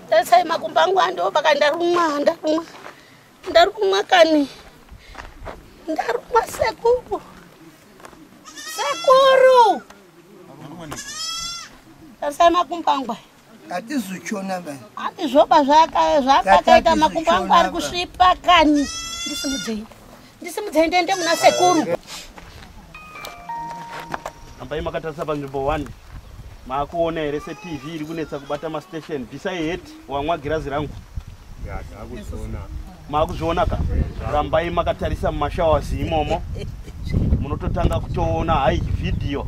tarisai makumbo angu andiwo paka ndarumwa ndarumwa ndarumwa kani ndarumwa sekuru sekuru tarisai makumbo angu aya hatizochiona vanhu handizvoba zvakakaita makumbo angu ari kusvipa kani ndisimudzei ndisimudzei ndiende muna sekuru ambai makatarisa panzvimbo one maakuona here setv iri kunetsa kubata mastation bvisai het wamwa girazi rangu maakuzviona ka rambai makatarisa mumashawazi imomo munototanga kutoona hai vhidhiyo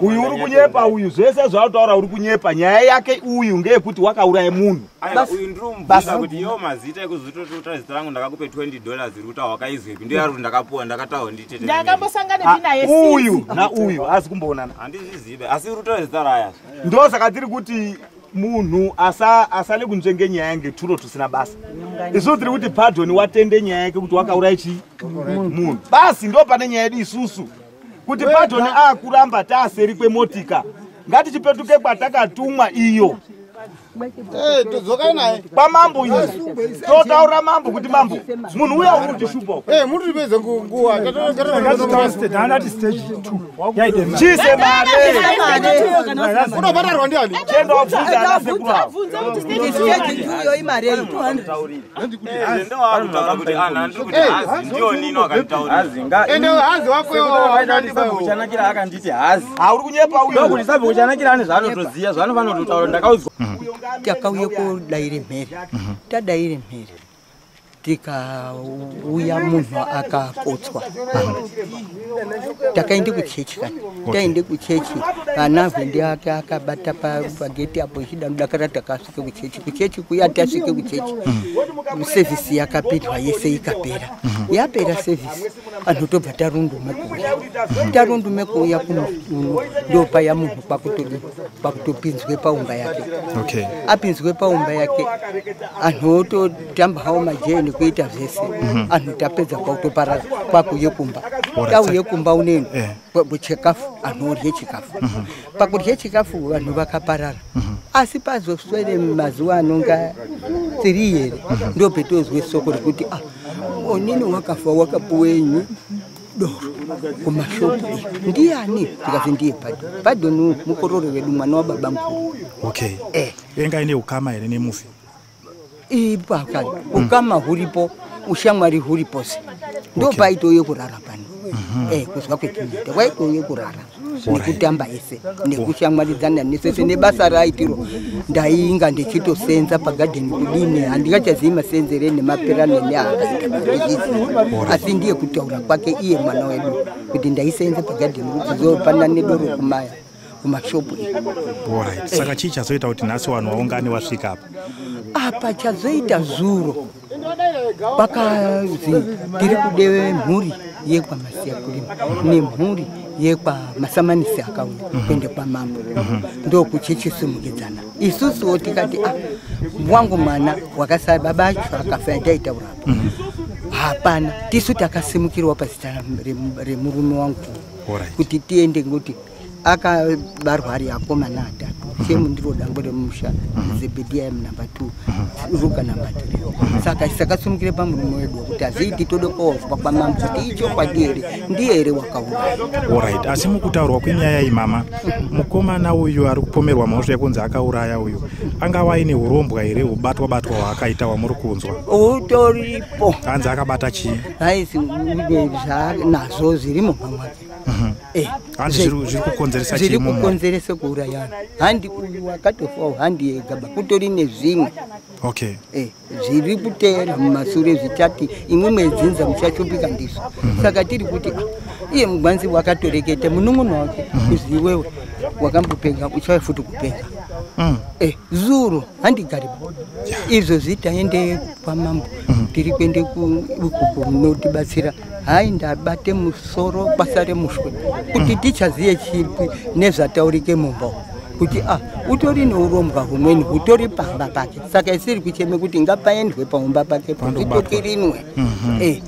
uyu uri kunyepa uyu zvese zvautaura uri kunyepa nyaya yake uyu ngeyekuti wakauraya munhu uyu nauyu asi kumboonana ndosaka tiri kuti munhu asa asale kunzvenge nyaya yange turo tusina basa isusu tiri kuti pardon watende nyaya yake kuti wakauraya chii munhu basi ndo pane nyaya yedu isusu kuti pardon akuramba taaseri kwemotika ngatichipetuke kwatakatumwa iyo eh, todzokai naye kwamambo ine totaura mambo kuti mambo munhu uya uri kutishupa eh, muripedze nguva ngatitaureanati stage t chise mareunobhatarwa ndiani chenda wabvunza ana sekubaende hazi wakoachanakira akanditi hazi auri kunyepa uyo kuti sabvekuchanakira ane zvaanotoziva zvaanofanototaura ndakaudzwa mhm. takauya kodaire mhere mhm. tadaire mhere tikauya munhu akakotswa takaende kuchechi kani taende kuchechi vana hwendi ake akabata pageti apo ichida kudakara takasvike kuchechi kuchechi kuya tasvike kuchechi mm. sevhisi yakapindwa yese ikapera mm-hmm. yapera sevhisi vanhu tobva tarundume kuuya mm-hmm. tarundume kuuya kuno ndopaya munhu kwakutoda pakutopinzwe paumba yake okay. apinzwe paumba yake anhu ototamba hawo majee nekuita zvese mm -hmm. anhu tapedza kwakutoparara kwakuye kumba tauye kumba uneni yeah. chikafu anhu orye chikafu mm -hmm. pakurye chikafu vanhu vakaparara mm -hmm. asi pazoswere mazuva anonga tiri here mm -hmm. ndopetozwe soko rekuti ah onini wakafa wakapuwenyi doro kumashopu ndiani ndikazi ndiye padon padon mukororo wedu mwana wababa mukuru okay eh. venga ine ukama here nemufi ipaka ukama huripo ushamwari huripose ndopaitouye kurara pano mhm. eh, kuzwa kwetinoita kwaitouye kurara nekutamba ese nekushamwaridzana nesese nebasa raaitiro ndainga ndichitosenza pagadheni kudini handingachazivi masenzere nemaperano neaakaita asi ndiye kutaura kwake iye mwana wedu kuti ndaisenza pagadheni kudzizopana nedoro kumaya kumashopu saka chii chazoita kuti nhasi vanhu vaungane vasvika apa apa chazoita zuro pakanzi tiri kudeve mhuri yekwamasiya kulima nemhuri yekwamasamanisi akauya mhm. kuende kwamambo mhm. ndokuchechisimukidzana isusuwo tikati a ah, wangu mwana wakasara baba acho akafa yataitaurapa mhm. hapana tisu takasimukirwa pazita remurume wangu kuti tiende ngoti akabarwa ari akomana atatu same ndiro dango remusha mhm. zebediya number two mhm. ruka number three mhm. saka sakasimukire pamurume wedu wekuti haziiti tode koozwa kwamama kuti ichokwadi here ndiye here wakauraya orit asi mukutaurwa kwenyaya iyi mama mukomana uyu ari kupomerwa mhosva yekunzi akauraya uyu angava aine urombwa here ubatwa batwa hwaakaita wamuri kunzwa utoripo hanzi akabata chii haisi zvanazvo zviri mumamwake Mhm. Eh, handi zviri kukonzeresa zviri kukonzeresa kuurayana handi uyu wakatofawo handi yegaba kutori nezvimwe okay eh zviri kuteera mumasure zvichati imwe mwedzinza muchashupika ndizvo mhm. saka tiri kuti ah, iye mugwanzi wakatoreketa munun'una wake mhm. uziwewe wakambopenga uchauya futi kupenga mm. eh, zuro handigari izvo zvitaende kwamambo tiri kuende kuikuku munotibatsira hai ndabate musoro basa remuswe kuti tichazive chipi nezvataurike mumba kuti a ah, utori neurombwa humweni hutori pamba pake saka isiri kucheme kuti ngapaendwe paumba pake poitokirinwe mhm. eh,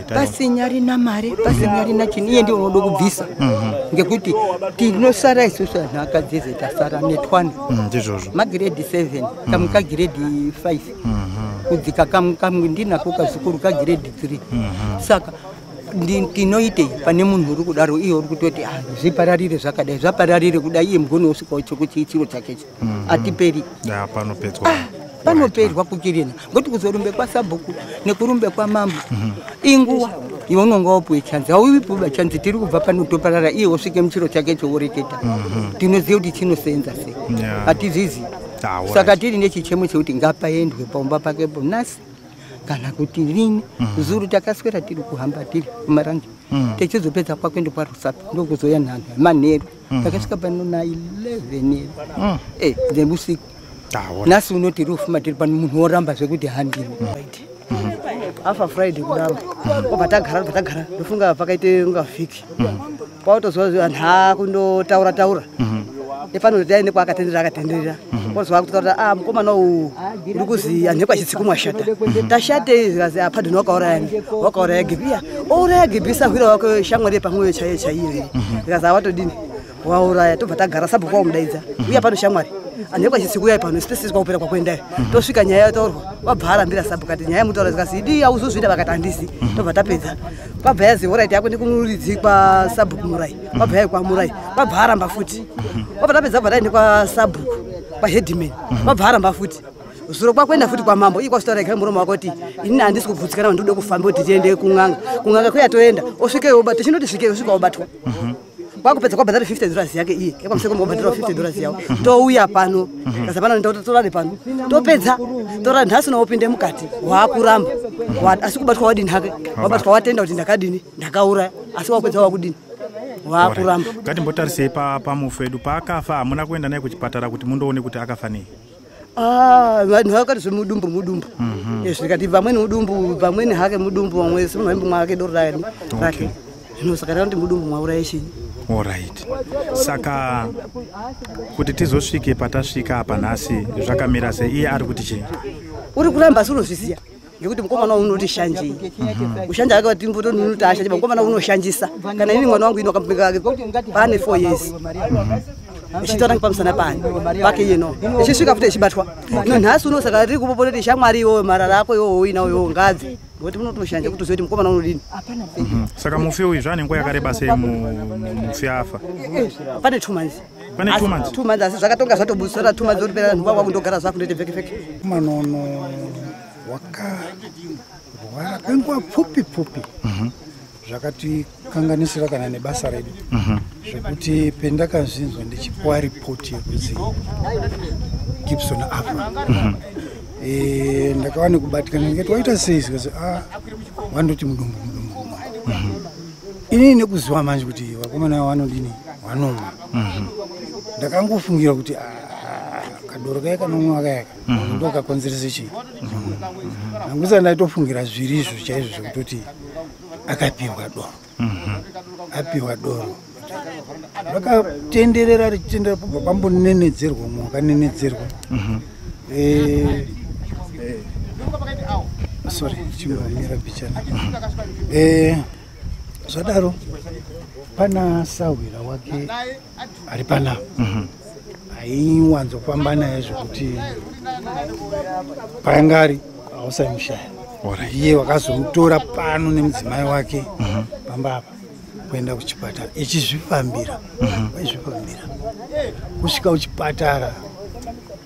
pasinyari na mari pasinyari na chini iye ndiye unoda kubvisa mhm. ngekuti tinosara isusu anhu akadzeze tasara netwana mm, magiredi 7 kamuka giredi 5 kudzika kamwe kamwe ndinako kazukuru kagrade three saka ndi- tinoitei pane munhu uri kudaro iye uri kutoti "Ah, zvipararire zvakadai zvapararire kudai iye mugoni usikawo chokuti chiro chakecho atiperi ya panopedzwa panoperwa kukirina ngokuti kuzorumbe kwasabhuku nekurumbe kwamambo inguwa iwe unonga wapuwe chanzi hauipuba chanzi tiri kubva pano toparara iye wosvike muchiro chake choworeketa tinoziva kuti chinosenza sei Yeah. hatizvizivi Ah, all saka right. tiri nechichemo chekuti ngapaendwe paumba pake bonasi kana kuti rini Mhm. zuru takaswera tiri kuhamba tiri kumarange Mhm. tichizopedza kwakuenda kwarusapi ndokuzouya nhanho manheru Mhm. takasvika pano na 11 Mm. eh, dzemusiku Ah, all right. nhasi uno tiri kufuma tiri pano munhu woramba zvekuti handini afa friday kudaro obva tagara obva tagara ndofunga pakaite unga vhiki kwautozwa vanhu haa kundotaura taura mhm. nefanira kuti aende kwaakatenderera akatenderera mhm. wozwa kutaura a ah, mukomana uwu uri kuzi anhu ekwachitsiku mwashata mhm. tashatei zikazi apadhini ah, wakaurayani wakauraya gibiya ouraya gibiya sahwira wake shamwari yepamwoyo chaiyo chaiyo here zikazi awatodini ah, wauraya tobva tagara sabhuku waumudaidza uya pano shamwari anhu ekwachitsiku yai pano sipesisi kwaupera kwakuendayo tosvika nyaya yataurwa wabva arambira sabhuku ati nyaya yemutaura zikazi idi auzozvida vakati handisi tobva tapedza kwabva yazi orit yako ndikunuridzi kwasabhuku murai kwabva yai kwamurai kwabva aramba futi kwabva mhm. tapedza bva taende kwasabhuku kwaheadman kwabva mhm. aramba futi zuro kwakuenda futi kwamambo ii kwasvitaura ikari muromo wako kuti inini handisi kubvutsikana vandikuda kufamba kuti tiende kun'anga kun'anga kuya toenda osvikeyo obata chinoti svikeyo osvika obatwa mhm. kwakupedza kwabhadhara 50 dollars yake iye ekwamuseko mobhadhara 50 dollars yawo touya pano kaza pano ndakuti torare pano topedza tora nhasi naopinde mukati waakuramba asi kubatwa wadini hake wabatwa watenda kuti ndakadini ndakauraya asi wakupedza wakudini waakuramba ngatimbotarisei pamufu edu paakafa hamuna kuenda naye kuchipatara kuti mundoone kuti akafa nei Ah, vanhu vakati zvemudumbu mudumbu mhm. eh, zvikati vamweni mudumbu vamweni hake mudumbu vamwe simunhu aimbo mwake doro rake rake zvino saka takuti mudumbu mwauraya chinyi orit saka kuti tizosvike patasvika apa nhasi zvakamira se iye ari kuti chii uri kuramba asi unozviziva nekuti mukomana wangu unoti shanjei ushanja ake vati mboto ndinoti ashanje mukomana unoshanjisa kana ini mwana wangu ino akamubereka ake pane four years ichitaura ngepamusana pani pake yeno ichisvika futi ichibatwa no nhasi uno saka riri kupopota kuti shamwari iwoyo marara ako iwowo uinawo iwowo ngadzi ngokuti munotoshanja kutoziva kuti mukomana unodini mhm. saka mufi uyu zvaane nguva yakareba sei mufi afa pane two months tumanzi asi zvakatonga zvatobusora tumanzi uri pera nhuva wakundogara zvako ndoite vekeveke manono wakarwara kwenguva pfupi pfupi mhm. zvakatikanganisira kana nebasa redu mhm. zvekuti pendakazvinzwa ndichipuwa ripoti yekuti gibson afa mhm. eh, ndakava nekubatikana ndikati waita sei zikazi a ah, wandoti mudumbu mudumbu ini nekuziva manje kuti vakomana vanodini vanomwa mhm. ndakangofungira kuti ah, kadoro kaye kanomwa kayaka mhm. ndokakonzeresa chii nangusa mhm. ndaitofungira zviri izvo chaizvo zvekutoti akapiwa doro apiwa doro rakatenderera richitendera pambonenedzerwa mwakanenedzerwa eh, eh, sorry chimira pichana eh, zvadaro pana sahwira wake ari pana mhm. aiwanzofamba naye zvekuti paanga ari hausaimushaya iye wakazomutora pano nemudzimai wake mhm. pamba apa kuenda kuchipatara ichizvifambira mhm. waizvifambira kusvika kuchipatara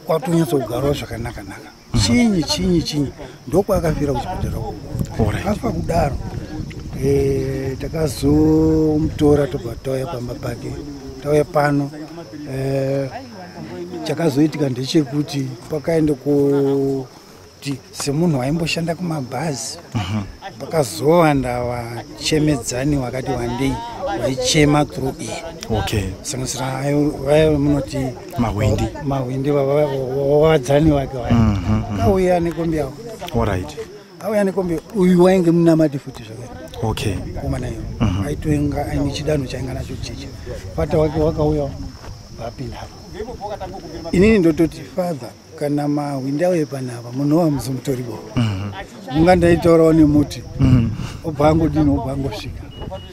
kwatonyatsogarawo zvakanaka naka mhm. chinyi chinyi chinyi ndokwaakafira kuchipatara afa kudaro eh, takazomutora tobva tauya pamba pake tauya pano eh, chakazoitika ndechekuti pakaenda ku kuti semunhu waimboshanda kumabhazi mhm. vakazowanda vachemedzani wakati wandei vaichema through iyi okay sanganisira vaya munoti mahwindi mahwindi vavadzani vake vaya mhm, mhm. kauya nekombi yavo orit auya nekombi uyu wainge munamati futi zvakare okay komana iyo aitoinga aine chidanho chainga nacho cheche fata wake wakauya vapinda inini ndototi father kana mahwindi auye panapa munhu wamusi mutoribo mhm. unga ndaitaurawo nemuti mhm. obva angodini obva angosvika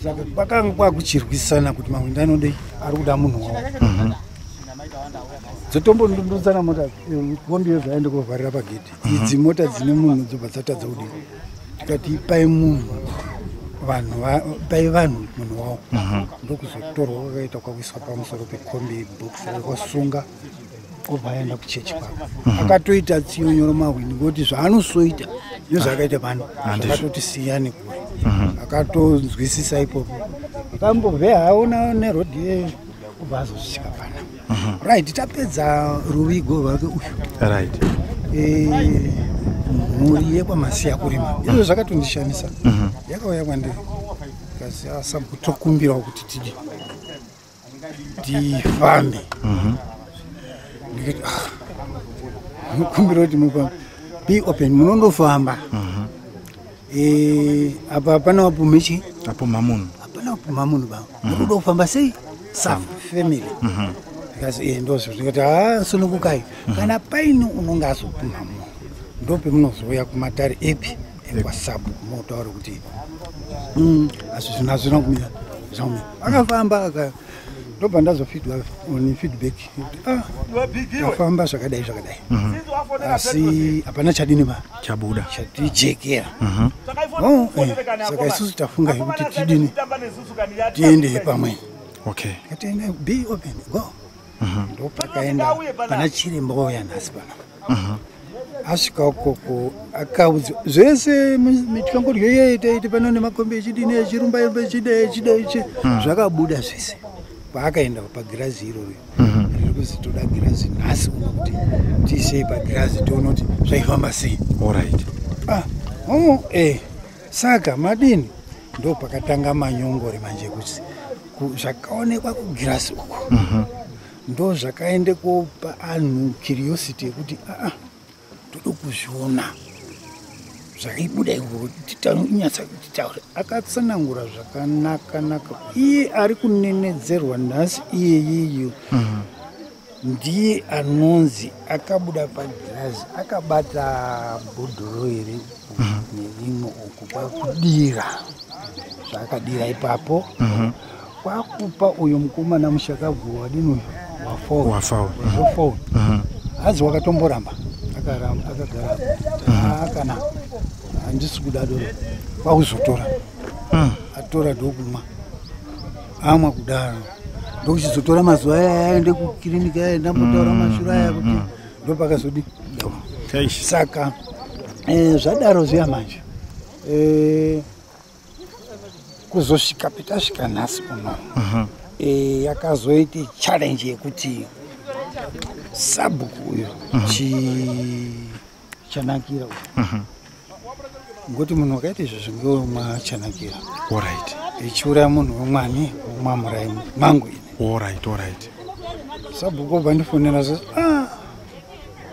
saka kwakanga kwakuchirwisana kuti mahwindi anodei ari kuda munhu wavo mhm. dzotombondundutsana mota eh, kombiyo zvaende kovharira pagedhi idzi mota dzine munhu dzobva dzatadza kudii tikati pai munhu vanhu pai vanhu munhu wavo ndokuzotorwa kwakaita kwakuiswa pamusoro pekombi box kwasunga obva aenda kuchechi kwake mhm. akatoita tsinyonyoro mahwini ngokuti zvaanosoita nezvaakaita pano akatoti siya nekure mhm. akatonzwisisa ipopo akambove haona nerodi yeyo obva azosvika pana mhm. right tapedza ruvigo rwake uyu right eh, mhuri yekwamasiya kurima izvo zvakatondishamisa yakauya kwandiri kasi asakutokumbirawo kuti tidii ndifambe mhm. ndikati ah, ndinokumbira kuti mupa be open munondofamba mhm. eh, apa hapana wapume chii apumha munhu hapana wapumha munhu baba mhm. munoda kufamba sei sa family ndikati eh, ndozvo ndikati ha ah, sunukukai kana paini unonge azopumha munhu ndopemunozouya kumatare epi ekwasabuku motaura kuti mm, asi zvinhu hazvina kumira zvaumira akafamba aka ndobva ndazofidwa on feedback ah, afamba zvakadai zvakadai mhm. asi hapana chadini ma chabuda chatijekera mhm. oh, eh, saka isusu tafunga yekuti tidini tiende pamwe okay. be open go ndopakaenda pana chiremba wauya nhasi pano asvika ukoko akaudza zvese mityangodyo iye itaiti pano nemakombi echidini echirumba imba echida echida ichi hmm. zvakabuda zvese paakaenda pagirazi iroro hmm. riri kuzi toda girazi nhasi uno kuti tiisei pagirazi tiona kuti zvaifamba sei orit ah, oh, eh, saka madini ndo pakatanga manyongori manje kuti zvakaonekwa kugirasi uko mhm. ndo zvakaende kopa anhu curiosity yekuti aa tode kuzviona zvaibuda iwotinyatsautitaura akatsanangura zvakanaka naka iye ari kunenedzerwa nhasi iyeyiyo mhm. ndiye anonzi akabuda pagirazi akabata bhodhoro iri mhm. neimwe uku kwakudira zvaakadira ipapo mhm. kwakupa uyo mukomana mushakabvu wadini wafawafawa mhm. hanzi wakatomboramba akaramba akagara akana handisi kuda doro kwakuzotora hmm. atora dokumwa amwa kudaro ndokuchizotora mazuva aya aende kukiriniki aya ndambotaura mm, mashura aya mm, kuti mm. ndopakazodi saka eh, zvadaro zviya manje eh, kuzosvika petasvika nhasi kuno uh-huh. eh, yakazoita challenge yekuti sabhuku uyo uh-huh. chanakira uyo uh-huh. ngokuti munhu wakaita izvo zvingewo machanakira orit ichiuraya munhu wemwani womwamurai mangu ini orit orit sabhuku obva ndifonera zve ah,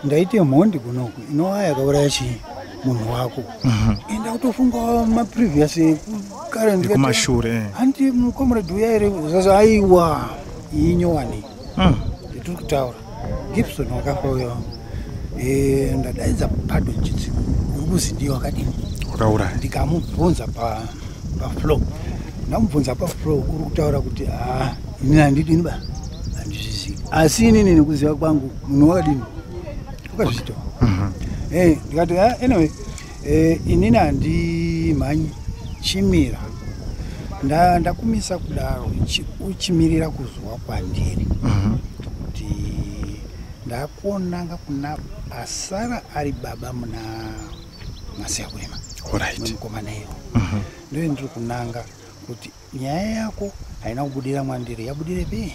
ndaite mhondi kunoku inova yakauraya chii munhu wako mhm. enda kutofunga maprevious ekukareekumashure eh. handi mucomrade uya ere zvazo aiwa inyowani hmm. tiri kutaura gibson wakafa uyo eh, ndadaidza pado chitsi uri kuzi ndiye wakadini wakauraya ndikamubvunza paflow ndamubvunza paflow uri kutaura kuti haa ah, ini handidini ba handizvizivi asi inini nekuziva kwangu munhu wakadini ukazvitoa mhm. eh, ndikati ah, anyway Eh, inini handimhanyi chimira ndakumisa nda kudaro uchimirira kuzuva kwandiri mhm. kuti uh -huh. ndakuonanga kuna asara ari baba muna masiyakurima right. mukomana iyo mhm. ndoendiri kunanga kuti nyaya yako haina kubudira mwandiri yabudirepi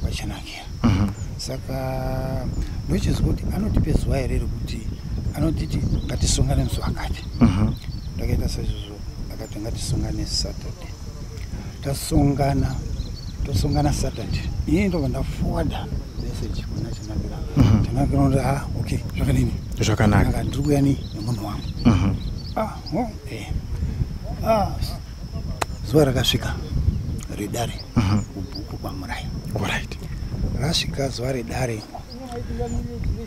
vachanakira mhm. saka ndochizwa kuti anotipe zuva here rekuti anotiti ngatisongane musi wakati mhm. ndakaita saizvozvo akati ngatisongane saturday tasongana tosongana saturday ini ndobva ndafowarda message kuna chanakira mhm. chanakira unoti ha ah, okay zvakanini zvakanaka ndiri kuya ni nemunhu wangu ah, oh, eh. ah, zuva rakasvika redare mhm. kubhuku kwamuraya orit rasvika zuva redare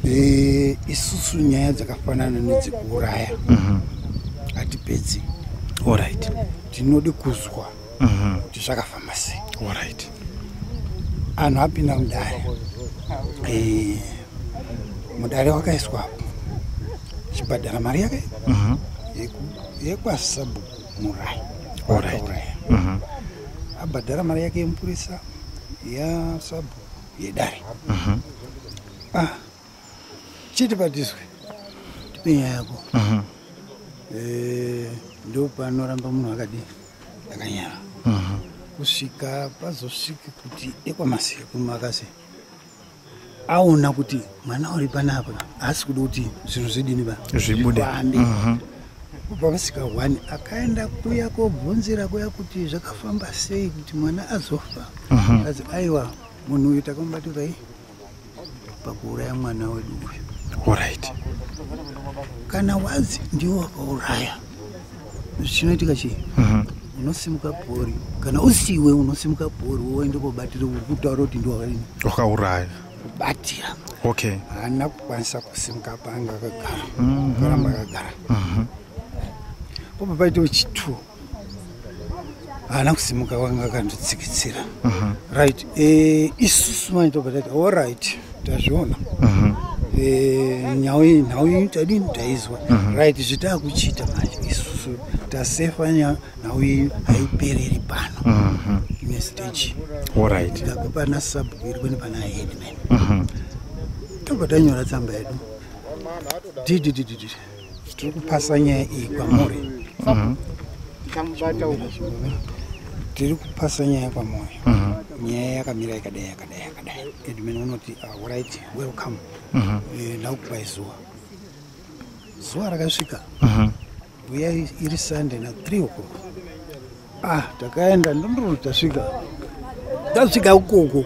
eh, isusu nyaya dzakafanana nedzekuuraya mhm. hatipedzi orit tinode kuzwa mhm. kuti zvakafamba sei orit anhu apinda mudare eh, mudare wakaiswapo chibhadhara mari yake yekwasabhuku murai vakauraya mhm. abhadhara mari yake yemupurisa yasabhu yedare mhm. ah, chiti patiswe tipe nyaya yako mhm. eh, ndopanoramba munhu akadii akanyara kusvika pazosvika kuti ekwamasekumakase aona kuti mwana uri panapa haasi kuda kuti zvinhu zvidini va zvibude mhm. kubva musika one akaenda kuya kobvunzira kuya kuti zvakafamba sei kuti mwana azofa mhm. kazi aiwa munhu uyu takamubatirai pakuuraya mwana wedu uyu orit kana wazi ndiwo wakauraya chinoitika chii mhm. unosimuka bhori kana usiwe unosimuka bhori woende kobatira uri kutaura kuti ndiwakaini wakauraya kubatira okay haana kukwanisa kusimuka panga akagara mhm. karamba akagara mhm. popa paitewo chitwo haana kusimuka wanga akanditsikitsira mhm. right eh, isusu manje tobva tati all right tazviona mhm. eh, nhau iyi nhau iyi tadini taizwa mhm. right zvitaa kuchiita manje isusu tasefa nhau iyi haipereri pano ine stage ndabva pana sabhuiri kwene pana headman tobva tanyora tsamba yedu dididididi tiri kupasa nyaya iyi kwamuri mhm. tiri kupasa nyaya kwamuri mhm. nyaya yakamira yakadai yakadai yakadai edmin unoti orit ah, welcome mhm. eh, ndakupai zuva zuva rakasvika uya iri sunday na three o'clock ah takaenda ndondoro tasvika tasvika ukoko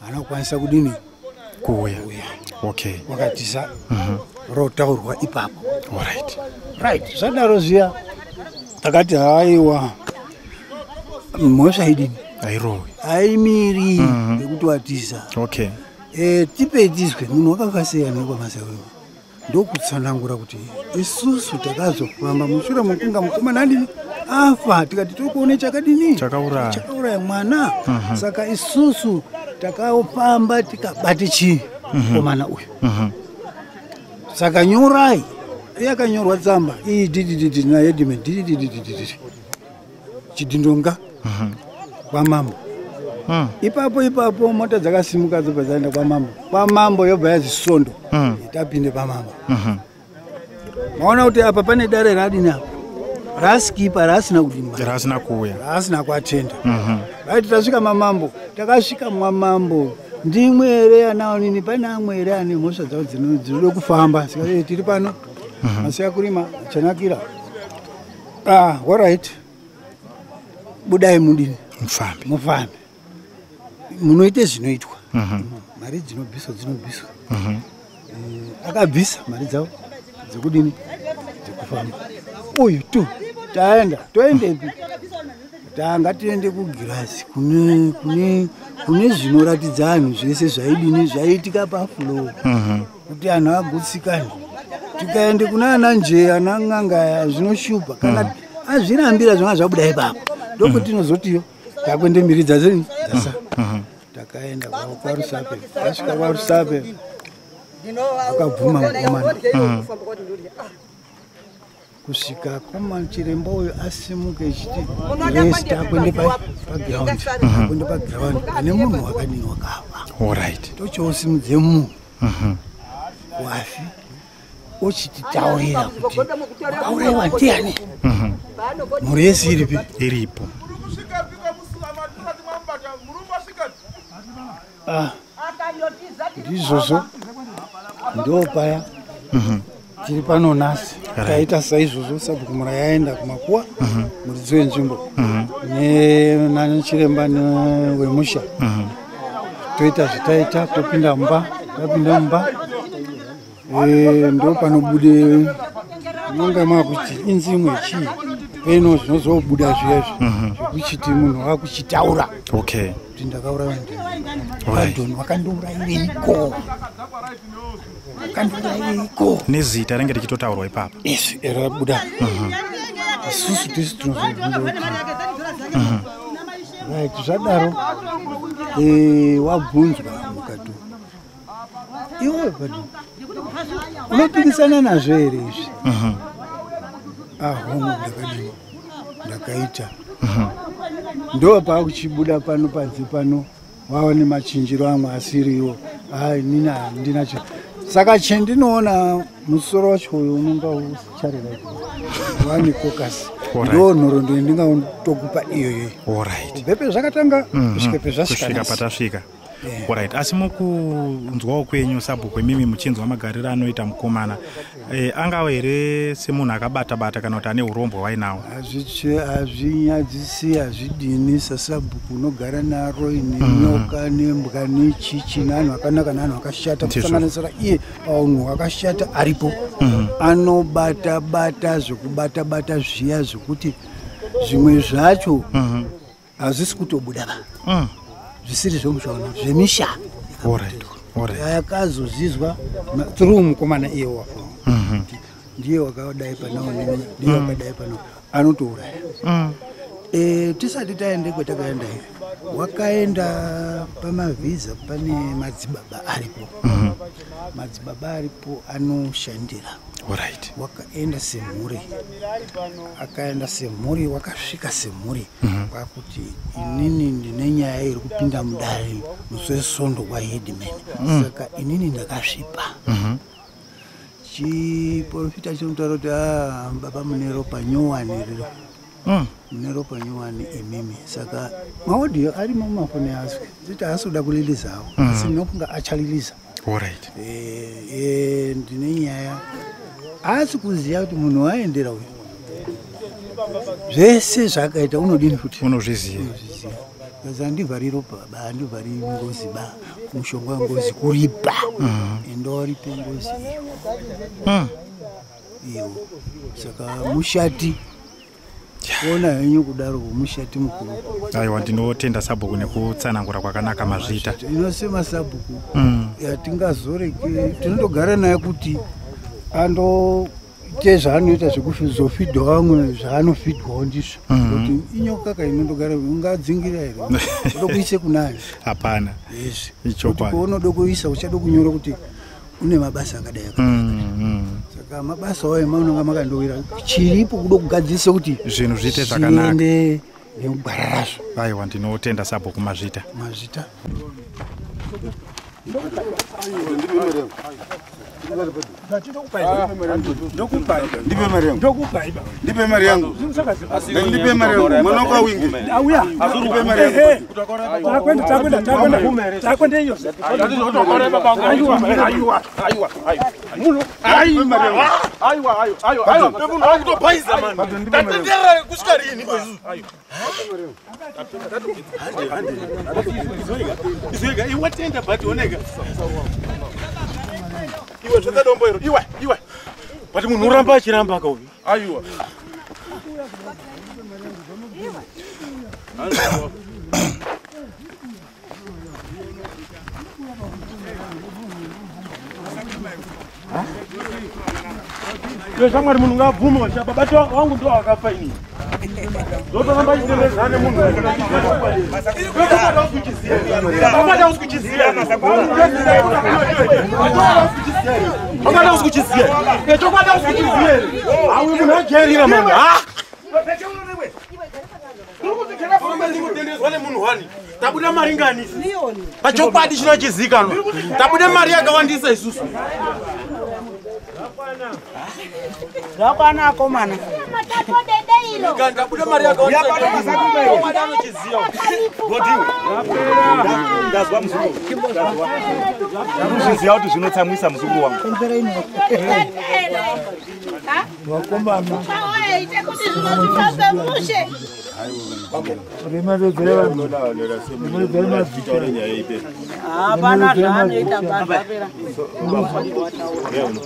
haana kukwanisa kudini kuuya okay wakatisa mhm. rotaurwa ipapo right right zvadaro zviya takati haiwa mhosva idini airowe aimiri mhm. yekuti watiza okay eh, tipe tizwe munhu wakafasiyana kwamasewema ndokutsanangura kuti isusu takazofamba mushure mokunga mukomana adini afa tikati tiri kuone chakadini chakauraya mwana mhm. saka isusu takafamba tikabate chii mhm. mukomana uyu mhm. saka nyorai yakanyorwa tsamba iyi didididi nayedime dididididididi chidhindonga mhm. kwamambo hmm. ipapo ipapo mota dzakasimuka dzobva dzaenda kwamambo kwamambo yobva yazi svondo hmm. tapinde pamambo mhm. maona kuti apa pane dare radini apa raaskipa raasina kudimba raasina kuuya raasina kuatenda mhm. raiti tasvika mamambo takasvika mwamambo ndimwe here anaonini pane amwe here ane mhosva dzavo dzinoda kufamba saka tiri pano masiya kurima chanakira Ah, all right. Budai mudini. Mfambi. Mfambi. Munoite zvinoitwa. Mhm. Mm mari dzinobviswa dzinobviswa. Mhm. Mm eh, akabvisa mari dzavo dzekudini dzekufamba. Uyu tu taenda toendepi? Tanga tiende kugirasi kune kune kune zvinoratidza anhu zvese zvaidini zvaiitika pafloor. Mhm. Mm kuti anhu agutsikane tikaende kuna ana njee ana n'anga zvinoshupa kana mm. azvirambira zvanga zvabuda ipapo ndokutinozotiyo mm. takuende mhiri dzazini dzasa mm. mm-hmm. takaenda kwarusape tasvika kwarusape akabvuma mukomana mm. kusvika komani chiremba uyo asimuke chiti rest akwende paground mhm. akwende paground pane munhu wakadini wakafa orit tochoosimudze munhu mhm. wafi ochititaurira kuti auraiwa ndiani mhm. mhuri yese iripi iripo ah, ndizvozvo ndo paya mhm. tiri pano nhasi taita saizvozvo sabhuku mura yaenda kumakuwa mhm. muridzi wenzvimbo mhm. nanachiremba wemusha toita zvitaita topinda mumba tapinda mumba Eh, ndo panobude munga makuti inzi imwe chii peno zvinozobuda zviyazvi mhm. zvekuchiti munhu wakuchitaura okay kuti ndakauraya ndadon wakandiurayireiko wakandiurayireiko nezita renge richitotaurwa ipapa yes rabuda mhm. isusu tisi tinozobvunza kuti mhm. right zvadaro eh, wabvunzwa iwe unopikisana nazvo here izvi mhm. ahongu ah, ndakadii ndakaita mhm. ndo paakuchibuda pano panze pano wava nemachinjiro amwe asiriwo hai nina handinacho saka chendinoona musoro wacho uyo unonga usicharera wani kokasi ndo nhoroondo yendingaotokupa iyoyoyi kubvepe zvakatanga mm-hmm. kusvika pezvasvika patasvika yeah. right asi mukunzwawo kwenyu sabhuku imimi muchinzwa magariro anoita mukomana e, angava here semunhu akabata bata kana kuti ane urombwa wainawo hazvinyadzisi hazvidini sasabhuku unogara naro ine mm. nyoka nembwa nechichi nanhu akanaka nanhu akashata kusanganisira iye paunhu akashata aripo mm. anobata bata zvekubata bata zviya zvekuti zvimwe zvacho mm -hmm. hazvisi kutobuda ba mm. zvisiri zvemushaona zvemisha akazozizwa through mukomana iye wapo mhm. ndiye wakadai panao ndiye mm. wakadai panao anotouraya mm. eh, tisati taende kwatakaenda here wakaenda pamavhiza pane madzibaba aripo mhm. madzibaba aripo anoshandira right. wakaenda semhuri akaenda semhuri wakasvika semhuri mm -hmm. kwakuti inini ndine nyaya iri kupinda mudare musi wesondo kwaheadman mm. saka inini ndakasvipa mm -hmm chiporofita chinotaura kuti ah, baba mune ropa nyowani riri mm. mune ropa nyowani imimi saka maodhiyo ari mumafoni yasu zita asoda kuliliza hawo mm. asi ndinofunga achaliliza orit e, eh, e, eh, ndine nyaya asi kuziva kuti munhu waendera uyu zvese zvaakaita unodini futi unozviziva kazi handivhari ropa ba handivhari ngozi ba mushonga wengozi kuripa mm. enda waripe ngozi iyo mm. iyo saka mushati ona henyu kudaro kumushati mukuru aiwa ndinotenda sabhuku nekutsanangura kwakanaka mazvita inosema sabhuku mm. yatingazoreke tinotogara naye kuti ando te zvaanoita zvekuzofidha vamwe zvaanofidhwawo ndizvo mhm. kuti inyoka ka inondogara ungadzingira here odokuise kunayo hapana yes ichokwadi unodokuisa uchada kunyora kuti kune mabasa akadai akadai mm, mm. saka mabasa wayo maunonga makandowira chiripo kuda kugadzirisa kuti zvinhu zviite zvakanakaende nekugwara razvo aiwa ndinotenda sabo kumazvita mazvita ndipe mari yangu ndipe mari yangu mwana wako awinge ndipe mari yangu iwe zvakadomboero iwe iwe but munhu uramba achiramba kauyu Aiwa. Yo shamwari munhu ngabvume wachapa bati wangu ndo wakafa ini. tabuda mari ngani pachokwadi chinochizikanwa tabuda mari yakawandisa isusu Zvakwana akomana. Ndazwa muzukuru. Ndazwa kuti zvinotsamwisa muzukuru wangu. Vakomana. Hapana zvaanoita pazvapera.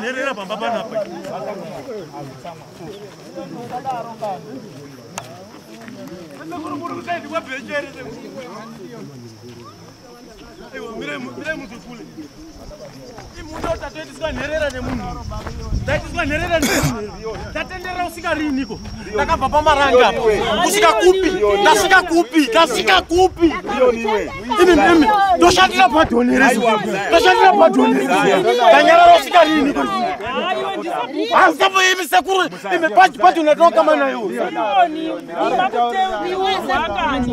nherera pamba panapa Mirai muzukule Imundo tatoitiswa nherera nemunhu. Taitiswa nherera nemunhu. Tatendera usika riniko. Takabva pamaranga. Usika kupi? Tasika kupi? Tasika kupi? Ini mimi toshandira padhonerezi. Toshandira padhonerezi. Tanyarara usika riniko. Hasa mwe imi sekuru imi pachi pachi unatoka mana yo. Ni wakati.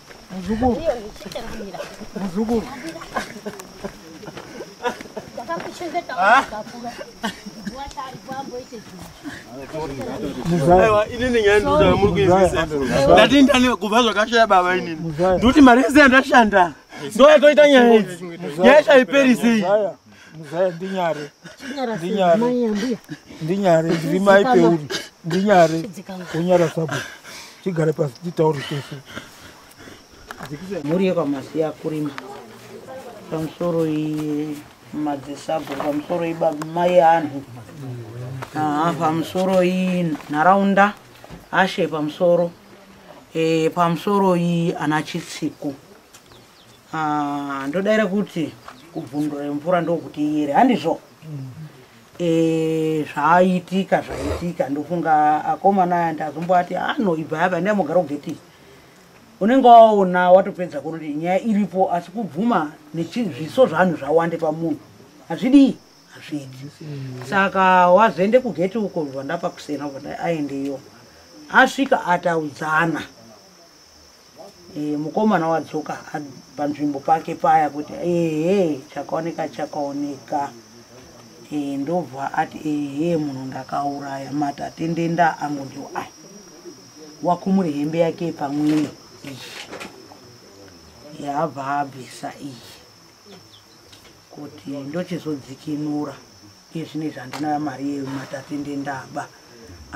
Muzukuru. Muzukuru. ndatindani kubva zvakashaya baba inini ndokuti mari yese yandashanda ndoyatoita nyaya idzi nyaya chaiperisei muzaya ndinyare ndinyare ndinyare ndiri mai peuri ndinyare unyara sabo tigare pasi titaure tese mhuri yekwamasiya kurima pamusoro madzisabho pamusoro mai anhu pamusoro inharaunda ashe pamusoro eh, pamusoro iyi ana chitsiko Ah, ndodaira kuti kubvundura mvura ndokuti iyere handizvo Eh, zvaitika zvaitika ndofunga akomana aya ndazomboati anoibva apa ndai mugara ugeti unenge waona watopedza kuona kuti nyaya iripo asi kubvuma nezviso zvanhu zvawande pamunhu hazvidii hazvidi saka wazoende kugeti uko zvandapa kusena kuti aendeyo asvika ataudzana e, mukomana wadzoka panzvimbo pake paya kuti ehe chakaoneka chakaoneka e, ndobva ati ehe munhu ndakauraya matatendenda angu ndiwo aya wakumuri hembe yake pamwene iyi yaabva abvisa iyi kuti ndochizodzikinura iye zvino izvi handina mari yematatende ndaba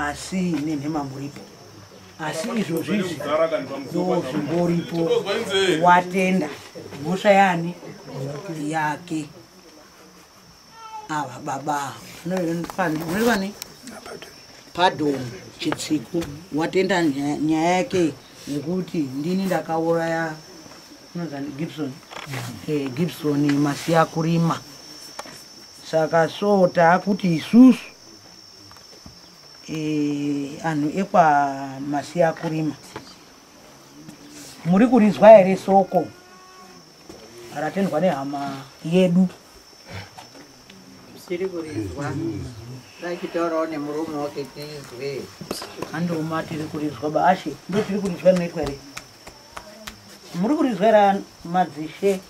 asi nenhema muripo asi izvozvo izvi ndozvimboripo watenda mhosva yani yake ava baba vanoivani padon chitsiku watenda nyaya yake yekuti ndini ndakauraya unozani gibson eh, gibson masiya kurima saka so taakuti isusu eh, anhu ekwamasiya kurima muri kurizwa here soko ratendwa nehama yedu tiri kurizwa tachitaurawo nemurume wake tizwe andiuma tiri kurizwa baashe ndo tiri kurizwa rinoitwa here muri kurizwa here madzishe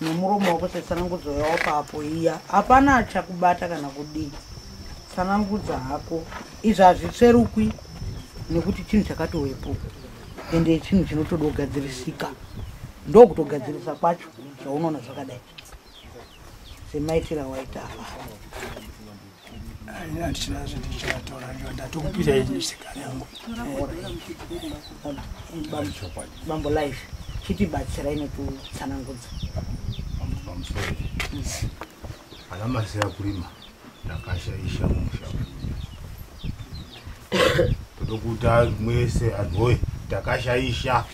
nemuromo wako setsanangudzo yawapa apo iya hapana achakubata kana kudii tsanangudza hako izvi hazvitsverukwi nekuti chinhu chakatowepo ende chinhu chinotoda kugadzirisika ndokutogadzirisa kwacho zvaunoona zvakadai semaitira waita hapana Handichina zvindichatola ndiyo ndatokupira ini sikari yangu. Bambo life chitibatsira ine kutsanangudza. Ana masiya kurima ndakashaisha musha. Todokuta mwese anhoye takashaisha.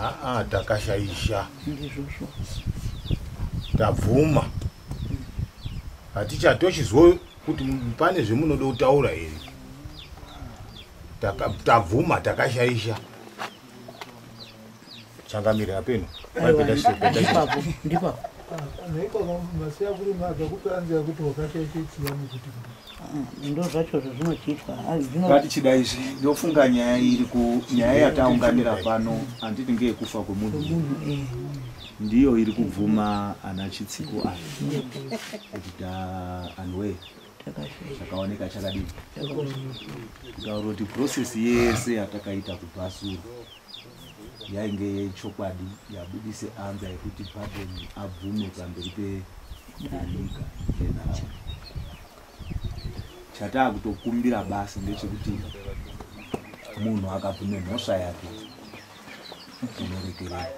aa takashaisha ndizvozvo tabvuma haticha tochizwa kuti pane zvemunoda kutaura here tabvuma takashaisha changamire apeno ndozvacho zvazvinochiitwa vati chida izvi ndofunga nyaya iri kunyaya yataunganira pano handiti ngeyekufa kwemunhu eh. ndiyo iri kubvuma ana chitsiko ayo kuti ta anwe chakaoneka chakadii kutaura kuti process yese yatakaita kubhasura yainge yechokwadi yabudise anza yekuti Baden abvume pamberi penyika nenhau. Chataa kutokumbira basi ndechekuti munhu akabvume mhosva yake inorekerera.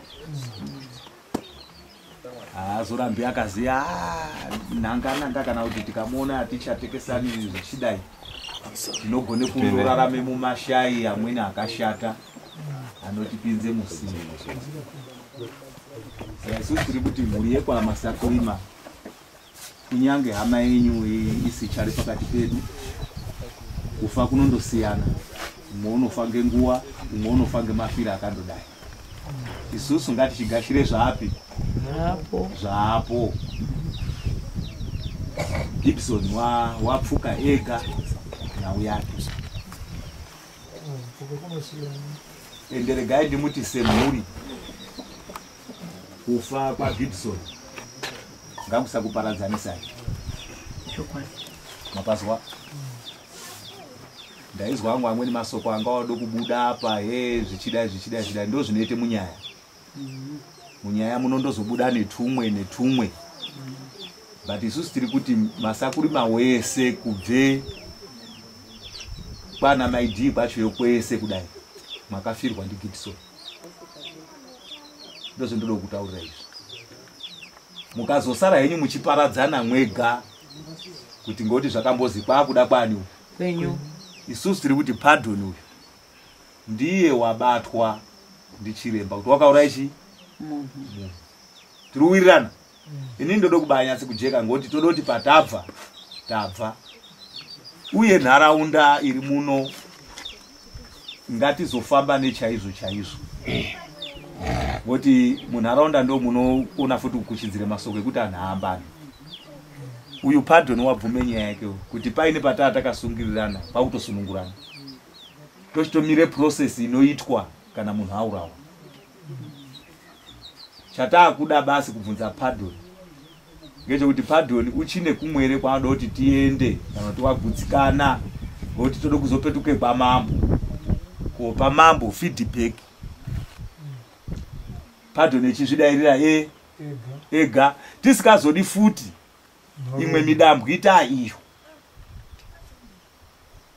haazorambi akaziva nhangananga kana kuti tikamuona hatichatekesani zvichidai tinogone kundorarame mumashayi amwene akashata anotipinze musii saka isusu tiri kuti mhuri yekwamasakirima kunyange hama yenyu isichari pakati pedu kufa kunondosiyana umwe unofa ngenguva umwe unofa ngemafiro akandodai isusu ngatichigashire zvapi zvaapo gibson wapfuka wa ega nhau yake ende regai ndimuti semhuri kufa kwagibson ngakusakuparadzanisai mapazwa ndaizwa angu amweni masoko anga wado kubuda apa he zvichidai zvichidai zvidai ndo zvinoite munyaya munyaya muno ndozobuda netumwe netumwe but isusu tiri kuti masakurima wese kubve kwana maidii kwacho yokwese kudai makafirwa ndigibsoni ndozvendinoda kutaurira izvi mukazosara henyu muchiparadzana mwega kuti ngoti zvakambozi kwakuda kwani kwenyu isusu tiri kuti pardon uyu ndiye wabatwa ndichiremba kuti wakauraya chi munhu tiri kuwirirana ini ndoda kubaya nyatsi kujeka ngoti toda kuti patabva tabva uye nharaunda iri muno ngatizofamba nechaizvo chaizvo ngoti munharaunda ndo munoona futi kukuchidzira masoko ekuti anhu aambani uyu padoni wabvume nyaya yake kuti paine pataa takasungirirana pakutosunungurana tochitomire process inoitwa kana munhu aurawa chataakuda basi kubvunza padoni ngechekuti padoni uchine kumwere kwaanoda kuti tiende kana kuti wagutsikana ngokuti tode kuzopetuke kwamambo kuopa mambo feedback padoni echizvidairira e ega tisikazodi futi imwe midambwita iyo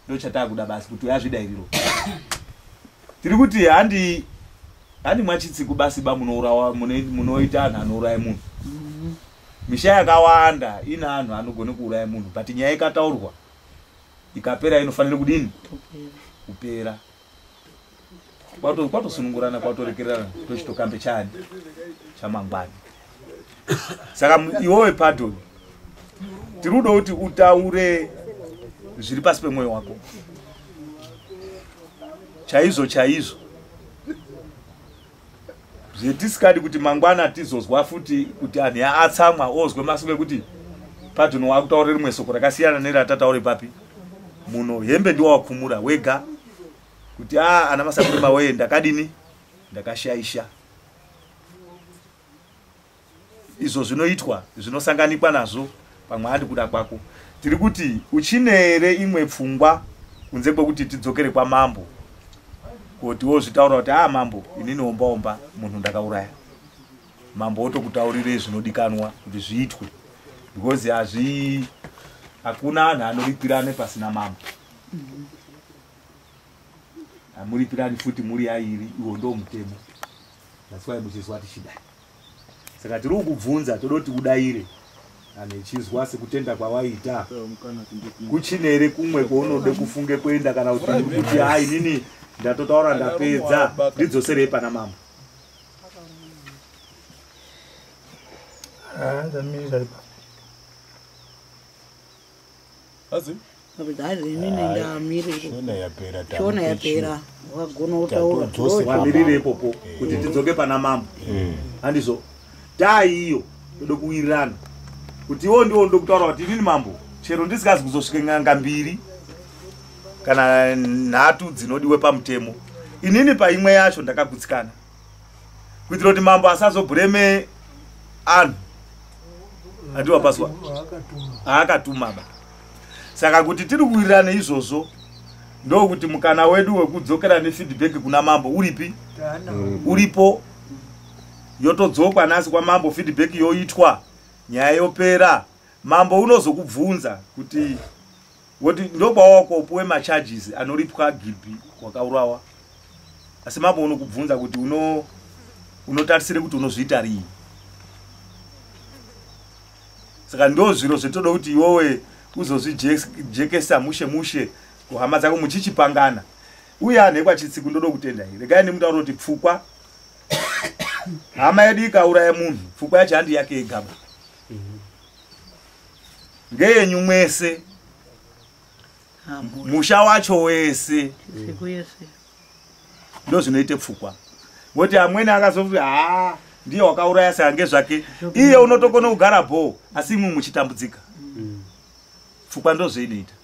ndochatakuda basi kuti uyazvidairiro tiri kuti handi handi mwachitsiku basi ba munourawa munoita anhu anouraya munhu mhm. misha yakawanda ine anhu anogone kuuraya munhu but nyaya ikataurwa ikapera inofanira kudini kupera kwatosunungurana kwatorekerana tochitokambe chani chamangwana saka iwowe padon tiri kuda kuti utaure zviri pasi pemwoyo wako chaizvo chaizvo zvetisikadi kuti mangwana tizozwa futi kuti anhu atsamwa ozwe masoko ekuti padon wakutaura rimwe soko rakasiyana neratataure papi muno hembe ndiwawakumura wega kuti a ah, ana masakurima wee ndakadini ndakashaisha izvo zvinoitwa zvinosanganikwa nazvo pamwe andi kuda kwako tiri kuti uchine here imwe pfungwa kunze kwekuti tidzokere kwamambo kuti wozvitaura kuti a ah, mambo inini ombaomba munhu ndakauraya mambo wotokutaurire zvinodikanwa kuti zviitwe because hazvi hakuna anhu anorikwirane pasina mambo amuripirani futi muri yairi iwo ndo mutemo that's why muchizwa tichida saka tiri kukubvunza toda kuti udaire anhu echizwa sekutenda kwawaita kuchine here kumwe kwaunode kufunge kuenda kana kuti kuti ha inini ndatotaura ndapedza ndidzoserei pana mama ah, ndamira ipa Azi? Azi ini nenda miri. Shona yapera tamu. Shona yapera. Wagona utaura. Tose pamirire ipopo eh. kuti tidzoke pana mambo. Eh. Handizo. Dai iyo ndoda kuwirirana. Kuti iwo ndiwo ndoda kutaura kuti inini mambo chero ndisikazi kuzosvika n'anga mbiri kana nhatu dzinodiwe pamutemo. Inini paimwe yacho ndakagutsikana. kuitira kuti mambo asazobhureme anhu andiwa paswa aakatuma ba saka kuti tiri kuwirirana izvozvo ndokuti mukana wedu wekudzokera nefeedback kuna mambo uripi mm. uripo yotodzokwa nasi kwamambo feedback yoitwa nyaya yopera mambo unozokubvunza kuti voti ndobawako upuwe macharges anoripwa gilpi wakaurawa asi mambo unokubvunza kuti uno unotarisire kuti unozviita rii saka ndo zviro zvetoda kuti iwowe uzozvijekesa mushe mushe kuhama dzako muchichipangana uye anhekwa chitsiku ndoda kutenda i regai nemutauro kuti pfukwa hama yedu ikauraya munhu pfukwa yacho handi yake yegaba mm -hmm. ngeyenyu mwese musha wacho wese ndozvinoita pfukwa ngoti amweni akazofi haa ah, ndiye wakauraya seange zvake iye unotokona kugara bhoo asi imwe muchitambudzika mm. pfukwa ndozveinoita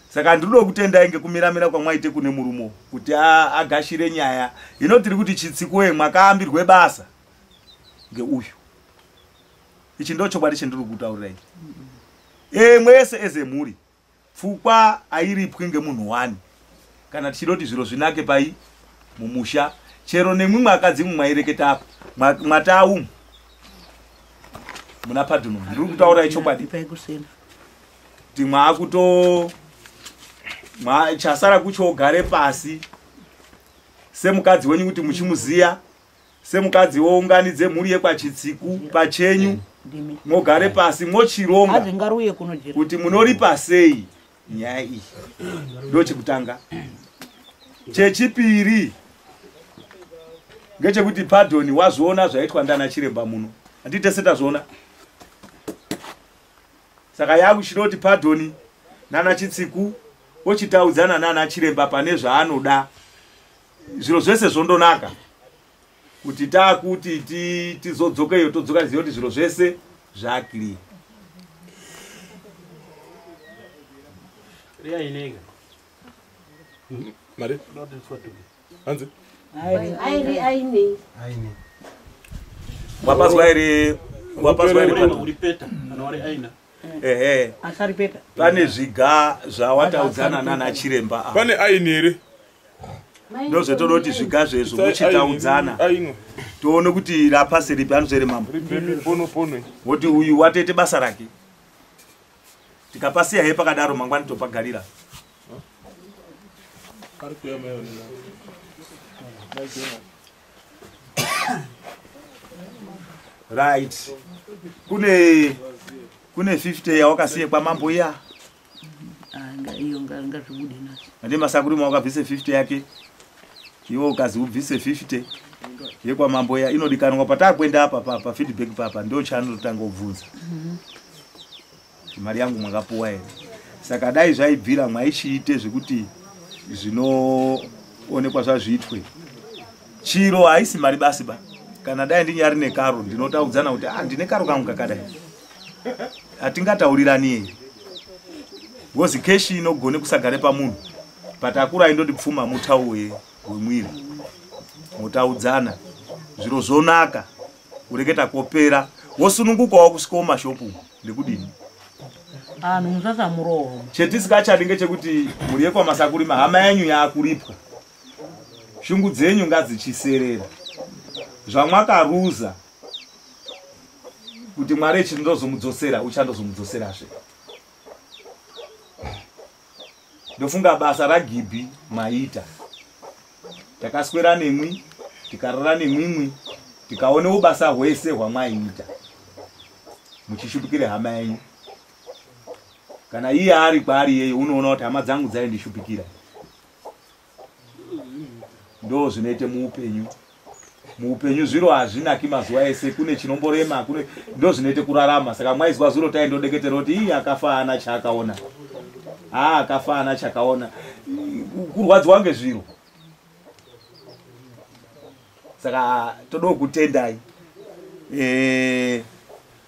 saka handinoda kutendai ngekumiramira kwamwaite kune murumo kuti agashire nyaya hino tiri kuti chitsikoye mwakaambirwe basa ngeuyu ichi ndo chokwadi chendiri kutaurira ichi e, mwese eze mhuri pfukwa airipwi ngemunhu wani kana tichida kuti zviro zvinake pai mumusha chero nemwi mwakadzi mwe mwaireketa apa mwataumu muna padhuno ndiri kutaura ichokwadi kuti mwaakuto chasara kucho ugare pasi semukadzi wenyu kuti muchimuziya semukadzi wounganidze mhuri yekwachitsiku pachenyu mogare pasi mochironga kuti munoripa sei nyaya iyi ndochekutanga chechipiri ngechekuti padoni wazviona zvaitwa ndana chiremba muno handii tese tazviona saka yakuchida kuti padoni nana chitsiku ochitaudzana nana chiremba pane zvaanoda zviro zvese zvondonaka kuti takuti tizodzoka iyo todzoka ziva kuti zviro zvese zvaclear mari hanzi aine aine aine wapazwa here wapazwa here pane zviga zvawataudzana nana chiremba pane aini here ndozvetoda kuti zviga zvezvo muchitaudzana toone kuti rapasi ripi anozvere mambo woti uyu watoite basa rake tikapasiya he pakadaro mangwani topagarira right kune kune 50 yawakasiye kwamambo iya Ah, iyo ngazvibude nacho manje masakuri mwa ukabvise 50 yake iwe ukazi ubvise 50 yekwamambo ya inodikanwa patakuenda apa pa, pa feedback papa ndo chanotanga ubvunza mm -hmm. mari yangu mwakapuwa here saka dai zvaibvira mwaishiite zvekuti zvinoonekwa zvazviitwe chiro haisi mari basi ba kana dai ndinyari nekaro ndinotaudzana kuti ah, ndine karo kangu kakadai hatingataurirani here ngozi keshi inogone kusagare pamunhu but akura aindoti pfuma mutau wemwiri motaudzana zviro zvonaka kureketa kopera wosunungukawo kusvikawo mashopu ndekudini anhu musasamurohoma chetisingachadi ngechekuti mhuri yekwamasakurima hama yenyu yaakuripwa shungu dzenyu ngadzichiserera zvamwakaruza kuti mwari echiti ndozomudzosera uchandozomudzoserazve ndofunga basa ragibhi maita takaswera nemwi tikarara nemwimwi tikaonewo basa hwese hwamwaiita muchishupikire hama yenyu kana iye ari kwaari yeyo unoona kuti hama dzangu dzaindishupikira ndo zvinoite muupenyu muupenyu zviro hazvinaki mazuva ese kune chinomborema kune ndo zvinoite kurarama saka mwaizwa zuro tai ndodeketera kuti ii akafa ana chaakaona haa ah, akafa ana chakaona kurwadziwa ngezviro saka todawo kutendai eh,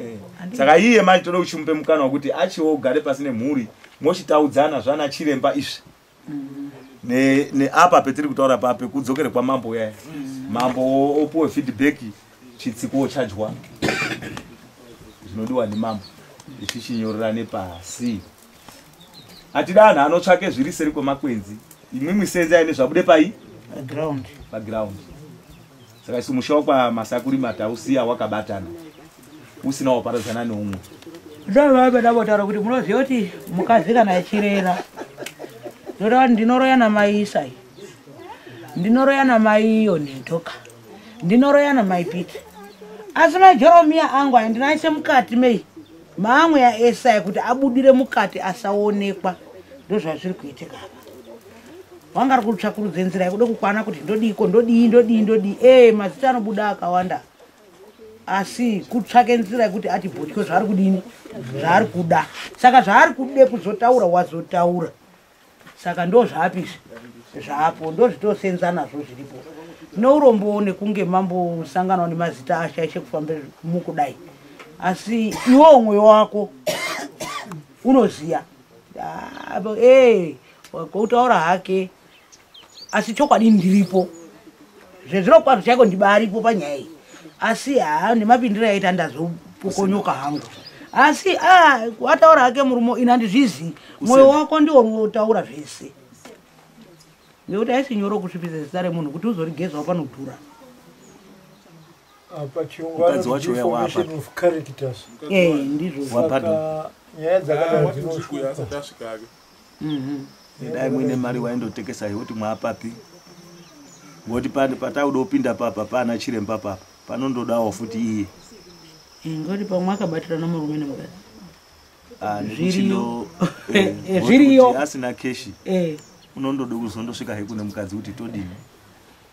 Eh, saka iye manje toda uchimupe mukana wekuti achiwo ugare pasi nemhuri mochitaudzana zvana chiremba izvi Ne- neapa petiri kutaura pa pekudzokere kwamambo uyaya mambo o- opuwe feedback chitsiko chadyiwa zvinodiwa nemambo ichi chinyorerane pasi hatida anhu anotsvake zviri seri kwemakwenzi imwimwi senza ine zvabude pai paground saka isu musha wakwa masakuri matausiya wakabatana usina waparadzana neumwe ndovave ndavotaura kuti munoziva kuti mukadzi kana achirera ndotaura ndinoroya namai isai ndinoroya namai iyo netoka ndinoroya namai piti asi maijoromiya angu aindinaise mukati mei Maamwe aEsaya kuti abudire mukati asaonekwa ndozvazviri kuitika apa. Wanga ari kutsvakurudza nzira yekuda kukwana kuti ndodiiko ndodii ndodii ndodii ee mazita anobuda akawanda asi kutsvake nzira yekuti ati bhotyo zvaari kudini zvaari kuda saka zvaari kude kuzotaura wazotaura saka ndo zvapi izvi zvapo ndozvitosenza nazvo zviripo nourombowo nekunge mambosanganawo nemazita ashaishe kufamba mukudai asi iwo mwoyo wako unoziya ah, eh, kutaura hake asi chokwadi ndiripo zvezvino kwazvo chaiko ndibaripo panyaya iyi asi haa nemapindiro yaita ndazopokonyoka hangu asi ah, ataura hake murumo ini handizvizivi mwoyo wako ndiwo unotaura zvese nekuti aisi nyoro kusvipisa zita remunhu kuti uzorigezawo panodhura mukadzi wacho uya wapa eh, ndizvo nyaya dzakadai ah, dzinosvika Mhm. Dai muine mari waindotekesa yoti mwapapi. Ngoti pande patauda kupinda papa pana chiremba papa. Panondodawo futi iye. Ingoti pamwe akabatira nomurume nemukadzi. Ah, Zviriyo. Eh, Zviriyo. Asina cash. Eh. Unondoda kuzondosvika hekune mukadzi kuti todini.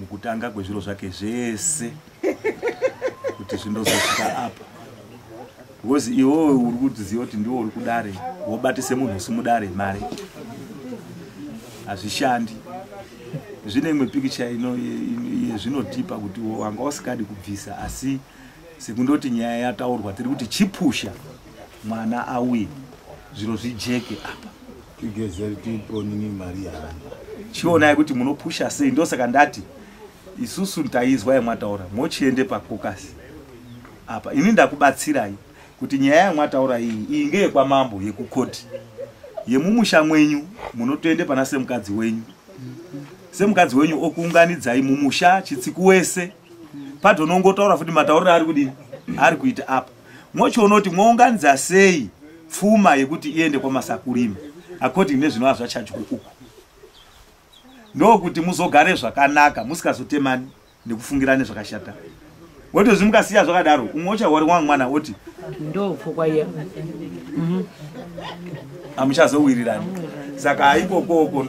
mukutanga kwezviro zvake zvese kuti zvindozosvika apa because iwowe uri kudziziva kuti ndiwo uri kudare wobatise munhu usimudare mari hazvishandi zvine imwe pikicha ino yezvinotipa kuti wanga usikadi kubvisa asi sekundoti nyaya yataurwa tiri kuti chipusha mwana auye zviro zvijeke apa chionai kuti munopusha sei ndosaka ndati isusu taizwa yamwataura mochiende pakokasi apa ini ndakubatsirai kuti nyaya yamwataura iyi iyi ngeyekwamambo yekukoti yemumusha mwenyu munotoende pana semukadzi wenyu semukadzi wenyu okuunganidzai mumusha chitsiku wese padonongotaura futi matauriro ari kudii ari kuita apa Mochiona kuti mounganidza sei pfuma yekuti iende kwamasakurima according nezvinova zvachajwa uku ndokuti muzogare zvakanaka musikazotemani nekufungirane zvakashata wotozvi mukasiya zvakadaro umwe uchahwari wangu mwana woti ndopfukwaiya mhm. amuchazowirirani saka ikokoko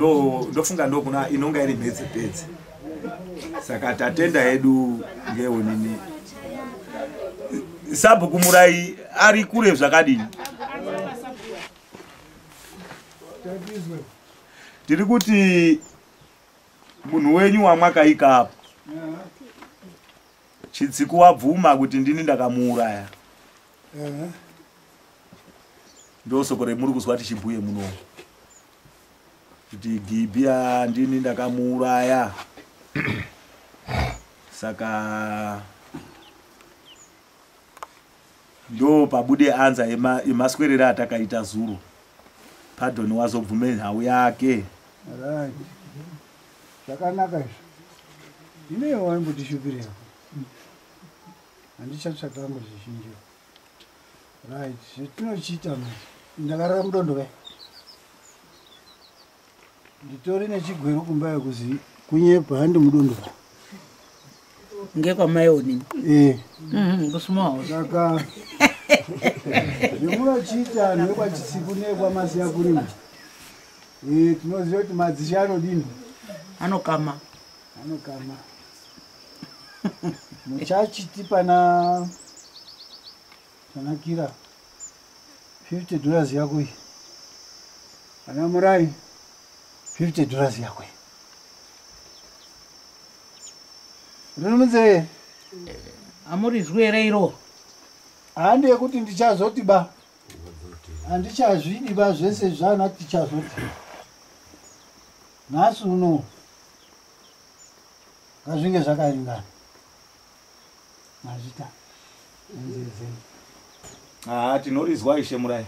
ndofunga ndokuna inonga iri mhedze pedze saka tatenda hedu ngeonini sabhuku murai ari kure zvakadini tiri kuti munhu wenyu wamwakaika apo chitsiku wabvuma kuti ndini ndakamuuraya ndosoko remuri kuzwa tichibhuye munomu kuti gibya ndini ndakamuuraya saka ndo pabude anza yemaswerere atakaita zuro padoni wazobvume nhau yake zvakanaka izvo inewo waimbotishupirira handichatsvakango zvizhinjiwo right zvetinochiita ma ndakarara mudondo ve nditori nechigwero kumba yekuzi kunyepa handi mudondo va ngekwamaionini ee mhm, kusumawo saka zvemunochiita anhu vekwachisiku neekwamasiya kurima ee tinoziva kuti madzishe anodini anokama anokama muchachiti pana panakira 50 dollars yako iyi ana murai 50 dollars yako iyi rinomunzee amurizwi here iro handi yekuti ndichazoti ba handichazvidi ba zvese zvana tichazoti nhasi uno ngazvinge zvakaringana mazvita nzezeni haa tinorizwa ishe murai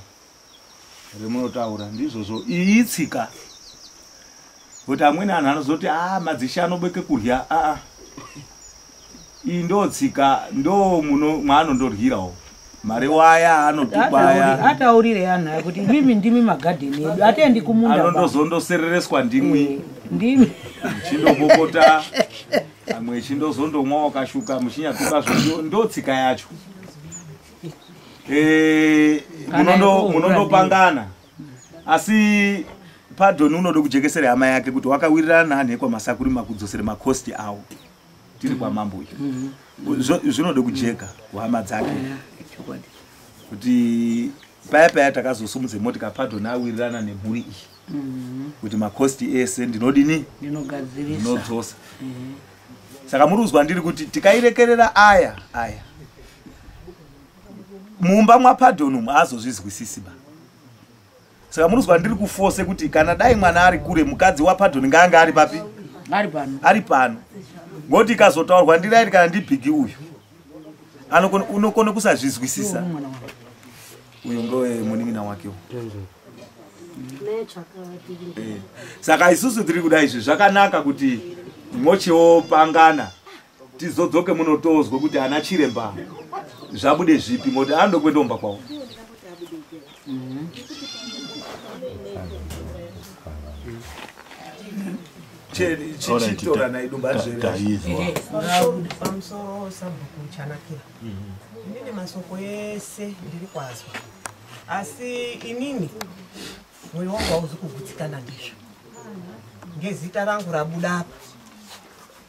remunotaura ndizvozvo iyi tsika kuti amweni anhu anozoti a ah, madzishe anobeke kurya aa ah, ah. iyi ndo tsika ndo muno mwaanondorhirawo mari waya anotubaya ataurire anhu aya kuti imimi ndimi magadheni edu atendi kumunda ba. anondozondoserereswa ndimwi Eh, ndimi chindopopota amwe chindozondomwa wakashuka muchinyatuka zvondo ndo tsika yacho Eh, Kana munondo- iko munondopangana asi padoni unoda kujekesera hama yake kuti wakawirirana nani ekwamasakuri makudzosere makosti awo tiri kwamambo uyu mm-hmm. zvinoda kujeka kuhama dzake kuti paya paya takazosumudze motika padho nawirirana nemhuri iyi mm-hmm. kuti makosti ese ndinodini ndinodzosa mm-hmm. saka muri kuzwa ndiri kuti tikairekerera aya aya mumba mwapadhon umu azozvizwisisi ba saka munonzwa ndiri kufose kuti kana dai mwana ari kure mukadzi wapadoni ngaange ari papi ari pano ari pano ngokuti ikazotaurwa ndirairi kana ndibhigi uyu unokona kusazvizwisisa uyu ngoe munin'ina wake u eh. saka isusu tiri kuda izvi zvakanaka kuti mochiwo pangana tizodzoke muno tozwe kuti ana chiremba zvabude zvipi moti andokwetoomba kwavo chichitorana idumba zverepamusoro sabhuku chanakira inini masoko ese ndiri kwazwa asi inini mwoyo wangu hauzi kugutsikana ndizvo ngezita rangu rabuda apa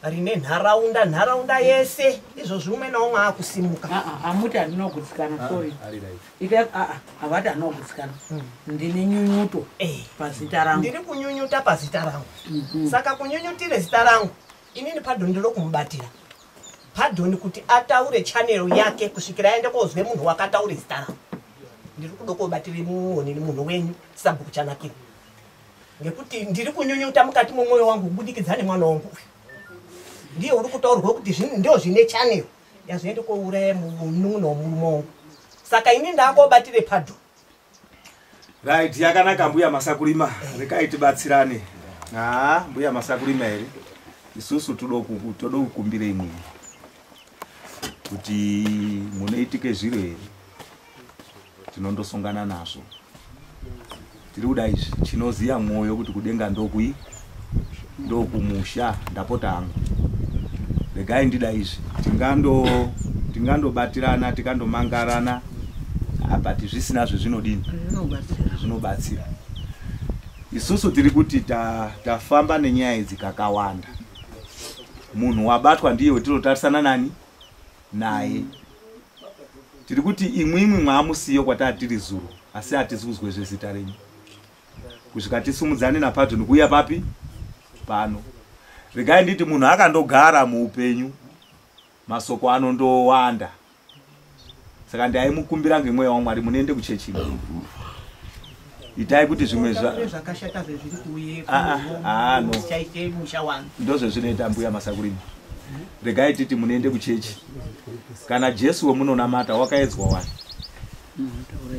rine nharaunda nharaunda yese izvozvi umwe naumwe akusimuka ah, ah, hamuti handina kugutsikana ah, sorry havati handina kugutsikana hmm. ndine nyunyuto eh. pazita rangu ndiri kunyunyuta pazita rangu mhm. saka kunyunyutire zita rangu inini padhoni ndiro kumubatira padhoni kuti ataure chanero yake kusvikira aende kozwe munhu wakataure zita rangu ndiri kudokobatire muonini munhu wenyu sabhuku chanakira nekuti ndiri kunyunyuta mukati momwoyo wangu kubudikidza nemwana wangu uyu ndiye uri kutaurwa kuti ndo zvine chanel yazviende kouraya munun'una womurume wangu saka ini ndakobatire padho right yakanaka mbuya masakurima rekai tibatsirane haa mbuya masakurima here isusu toda kukumbira imwini kuti munoitike zviro here tinondosongana nazvo tiri kuda izvi chinoziva mwoyo kuti kudenga ndokui ndokumusha ndapota hangu regai ndida izvi tingandobatirana tikandomangarana ah, but zvisina zvezvinodini zvinobatsira isusu tiri kuti tafamba ta nenyaya idzi kakawanda munhu wabatwa ndiye wetinotarisana nani naye tiri kuti imwimwi mwamusiyo kwataa tiri zuro asi hatisi kuzwe zvezita renyu kusvika tisumudzane napato nekuuya papi pano regai nditi munhu akandogara muupenyu masoko anondowanda saka ndaimukumbira ngemweya wamwari munoende kuchechi itai kuti zvimwe zvakashata zvezviri kuuye ah, ah, ah, chaite musha wanu ndozvezvinoita mbuya masakurimi regai titi munoende kuchechi kana jesu wemunonamata wakaedzwa wani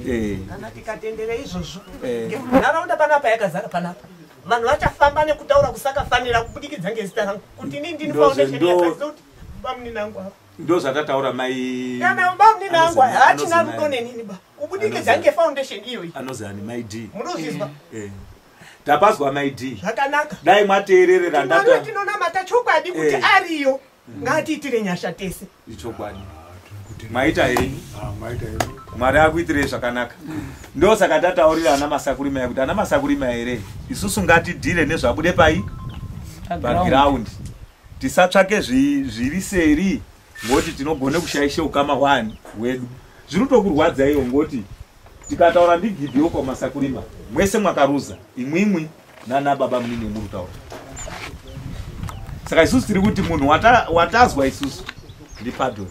eh. kana tikatendere izvozvo eh. nharaunda panapa yakazara panapa vanhu vachafamba nekutaura kusakafanira kubudikidza ngezita rangu kuti ini ndini foundation yakaziva kuti bamuninangu avo ndozvatataura mai bamnini angu haachina rudo nenini ba kubudikidza ngefoundation iyoyi anozi ani mai d munozvizwa eh, eh. tapazwa mai d zvakanaka dai mwateererera ndata tinonamata chokwadi kuti eh. ariyo mm. ngaatiitire nyasha tese ichokwadi ah, maita henyu ah, mwari akuitirei zvakanaka ndosaka tataurira ana masakurima yakuti ana masakurima here isusu ngatidhire nezvabude pai pagiraundi tisatsvake zviri seri ngoti tinogona kushaisha ukama hwani hwedu zviri tokurwadza iyo ngoti tikataura ndigidhiyo kwamasakurima mwese mwakaruza imwimwi nana baba munini wemuri taura saka isusu tiri kuti munhu watazwa isusu ndipadoni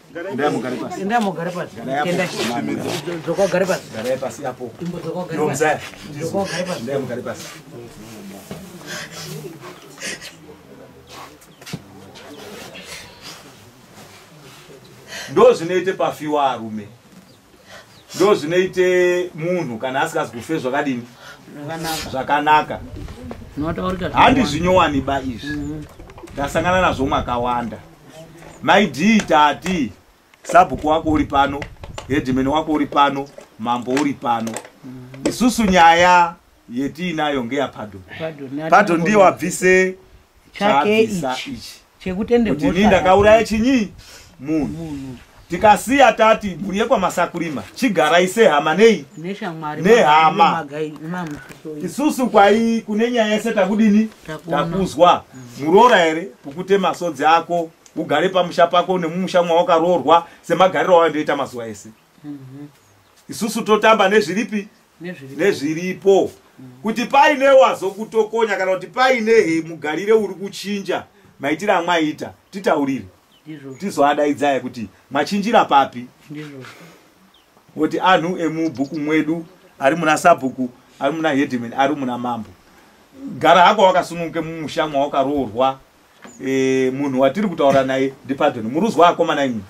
ndozvinoite pafiwa arume ndozvinoite munhu kana asikazi kufe zvakadini zvakanaka handizvinyowani ba izvi mhm. ndasangana nazvo makawanda maidii tati sabhuku wako uri pano hedimeni wako uri pano mambo uri pano mhm. isusu nyaya yetiinayo ngeyapadon padon ndiye wabvise chaabvisa ichi chekutende kuti ini ndakauraya chinyi munhu tikasiya tati mhuri yekwamasakurima chigarai sehama nei nehama isusu kwai kune nyaya yese takudini takuzwa muroora here kukute masodzi ako ugare pamusha pako nemumusha mwawakaroorwa semagariro awandoita mazuva ese mhm. isusu totamba nezviripi nezviripo kuti paine wazokutokonya kana kuti paine he mugarire uri kuchinja maitire amwaita titaurire tizoadaidzaya kuti machinjira papi kuti anhu emubhuku mwedu ari muna sabhuku ari muna hedman ari muna mambo gara hako wakasununguke mumusha mwawakaroorwa e, munhu watiri kutaura naye ndipadoni muruzwa akomana imwe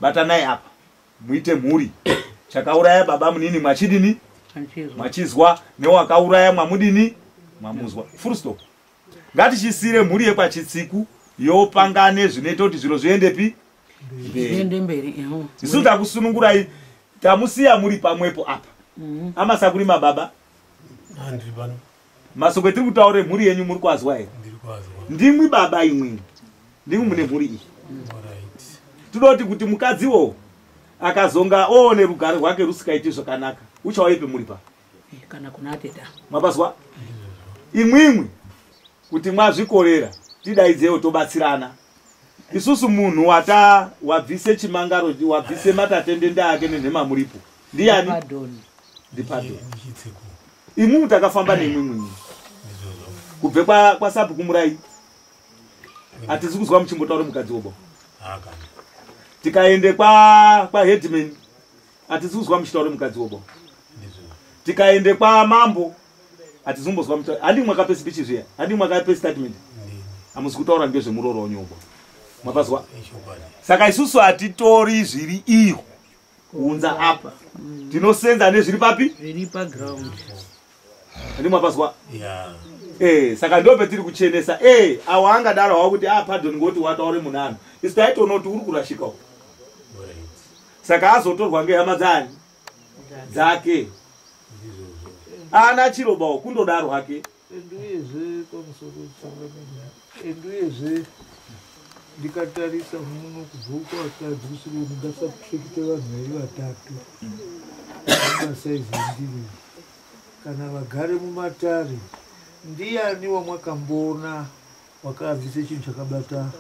batanai apa muite mhuri chakauraya baba munini mwachidini mwachizwa newakauraya mwamudini mwamuzwa full stop ngatichisire mhuri yekwachitsiku yopangane zvinoita kuti zviro zviendepi isu takusunungurai tamusiya muri pamwepo apa mm-hmm. amasakurima baba Masoko etiri kutaura emhuri yenyu muri kwazwa here? Ndimwi baba imwimwi. Ndimwi mune mhuri iyi. Tinoti kuti mukadzi wo akazonga oone rugare rwake rusikaiti zvakanaka. Uchawaipi muri pa? Eh, kana kuna teta. Mabazwa? Imwimwi kuti mwazvikorera tidaidzewo tobatsirana. isusu munhu wata wabvise chimangaro wabvise matatendende ake nenhema muripo ndiani ndipadoni imimi takafamba nemwe mwinyi kubve kwasapi kumurai hatisi kuzwa muchimbotaura mukadzi wobo tikaende kwaheadman hatisi kuzwa muchitaura mukadzi wobo tikaende kwamambo hatizombozwa muta handi mwakape speech zviya handi mwakape statement hamusi kutaura ngezvemurooro wanyoko mapazwa saka isusu hatitori zviri iyo kuunza apa tinosenza nezviri papi zviri paground handi mwapazwa yeah. Eh, saka ndo petiri kuchenesa eh, awo angadaro hawo kuti ah, pardon ngoti wataure munhu ano isu taitoona kuti uri kurashika u saka azotorwa ngehama dzani dzake ana chirobawo kundodaro hake and uyezve pamusoro wechangamenya and uyezve ndikatarisa muno kubva uko vakadzi kusvika ndingasapfekite vanhu vari vatatu masaizi endiri kana vagare mumatare ndiyani wamwakamboona wakaanzise chinhu chakabata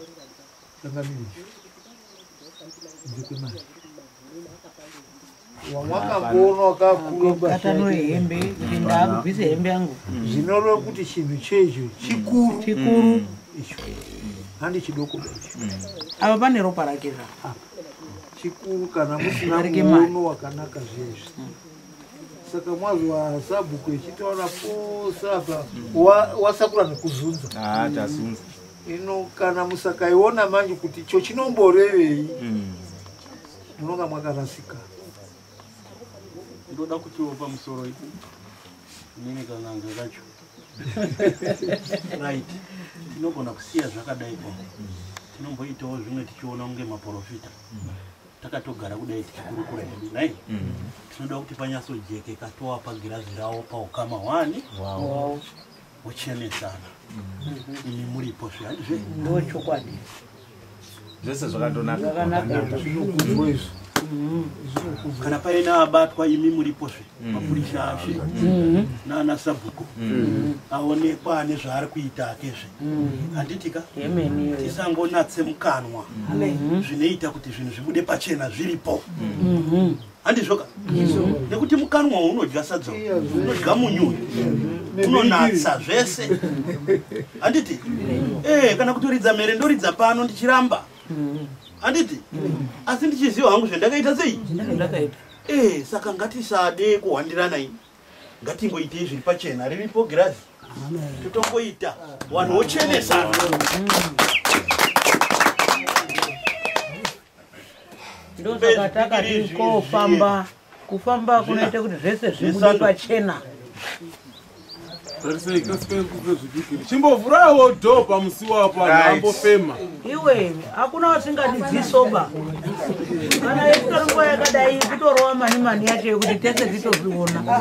wamwakakuona wakakuatano hembe kuti ndakubvise hembe yangu zvinoreva kuti chinhu checho chikuru chikuru icho handi chidoko ava pane ropa rake ra chikuru kana musina muono wakanaka zviyezvi saka mwazwa sabhuku echitaura pose apa wasakura nekuzunza ah, ino kana musakaiona manje kuti icho chinomborevei mm. munonga mm. mwakarasika ndoda kutiwo pamusoro ipo inini kananga kacho right tinogona kusiya zvakadai ko tinomboitawo zvimwe tichiona kunge maprofita takatogara kudai tichikurukura hedu nai tinoda kuti panyatsojekeka toapa girazi rawo paukama hwani muchenesana imi muripo zvihandizve ndo chokwadi zvese zvakatonakaizvo kana paine abatwa imi muripo zve mm. mapurisa ashe mm-hmm. naana sabhuku mm-hmm. aonekwa ane zvaari kuita ake zve mm-hmm. handitika tisangonatse mukanwa zvinoita kuti zvinhu zvibude pachena zviripo handizvoka nekuti mukanwa unodya sadza unodya munyu unonatsa zvese handiti eh, kana kutoridza mhere ndoridza pano ndichiramba handiti asi ndichiziva hangu zvendakaita sei eh, saka ngatisade kuhwandirana ini ngatingoitei zviri pachena riripo girazi totongoita vanhu vochenesana ndosaka takati kofamba kufamba kunoita kuti zvese zvibude pachena chimbovhurawo dho pamusi wapo ambofema iwe hakuna wasingadi dzisoba kana yekutoringuva yakadai kutorova mani mani yacho yekuti tese titozviona